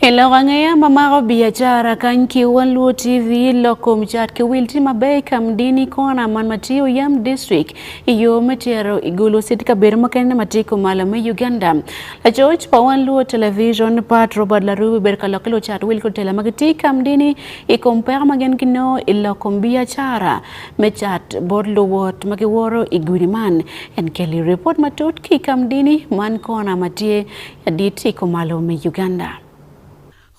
I lok angeya ma mako biacara kany ki One Luo TV, lok kom cat ki wil tye maber i Kamdini Corner man ma tye Oyam District i yo me tero i Gulu City kabedo mukene ma tye kumalo me Uganda. Lacoc pa One Luo Television, Pat Robert Larubi obedo ka lok ki lucat wil ki lutela ma gitye i Kamdini i kom peko ma gin ginongo i lok kom biacara me cat bot luwot ma giwoto i gudi man. En keli ripot matut ki i kamdini man kona ma tye adit i kumalo me Uganda.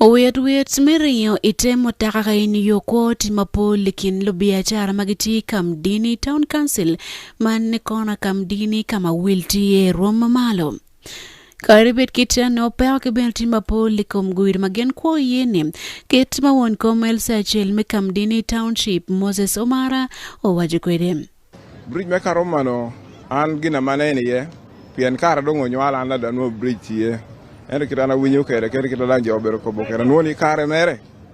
Owit wit me ringo i te mutoka ka in yo kwo tye mapol i kin lubiacara ma gitye i kamdini, Town Council, man kona kamdini ka ma wil tye rwom mamalo. Kadi bed kit anno peko ki bene tye mapol i kom gudo ma gin kwo iye ni, kit ma won kom LC acel me Kamdini Township, Moses Omara owaco kwede. Bridge me Karomano an gin ama aneno iye pien kara dong onywala an adwa nwo bridge tye ento kit an awinyo kwede kadi kit ma dang jo obedo kobo kwede anwo ni kare mere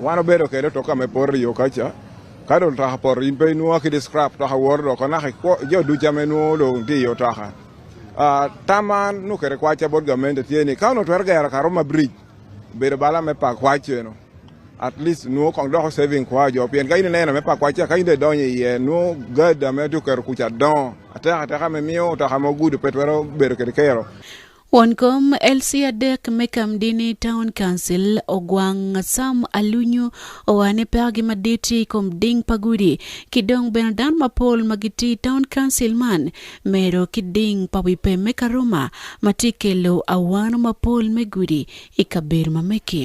Wan obedo kede otoka me poro iyo kaca ka dong otoka poto in pe inwongo kede scrap otoka woro dok anaka jo duca ma inwongo dong tye iyo otoka. Tam ma an nongo kede kwaca bot gamente tye ni ka onongo twero gero Karuma bridge obedo bala me pa kwac cenu at least nongo kong doko saving kwaya jo pien ka in ineno me pa kwac ca ka in dong idonyo iye nongo gada ma itye oketo kuca dongo atek ateka ma miyo otoka ma ogudo pe twero bedo kede kero. Won kom LC adek me Kamdini Town Council Ogwang Sam Alunyu owaco ni pekogi madit tye i kom ding pa gudi ki dong bene dano mapol ma gitye i Town Council man medo ki ding pa wi pem me Karuma ma tye kelo awano mapol me gudi i kabedo ma mege.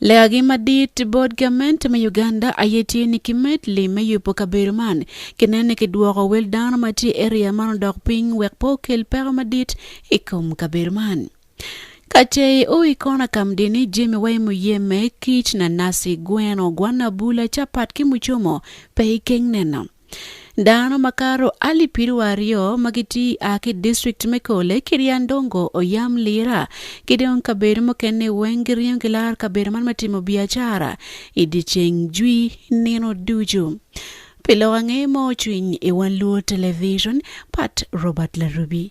Legagi madit bot gamente me Uganda aye tye ni kimed lim me yubo kabedo man ki neno ni kidwoko wel dano ma tye i eria man odok piny wek pe okel peko madit i kom kabedo man. Kacei o i kona kam dini, jemi wa i muyeme, kic, nanasi, gweno, gwanna bula, capat ki mucomo pe i keng neno. Dano makato alip piru aryo ma gitye a ki i distrikt me Kole, Kiryandongo, Oyam, Lira ki dong kabedo mukene weng giringo ki laro kabedo man me timo biacara i dyeceng jwi nino ducu. Pi lok ange mo cwiny i Wan Luo Television, Pat Robert Larubi.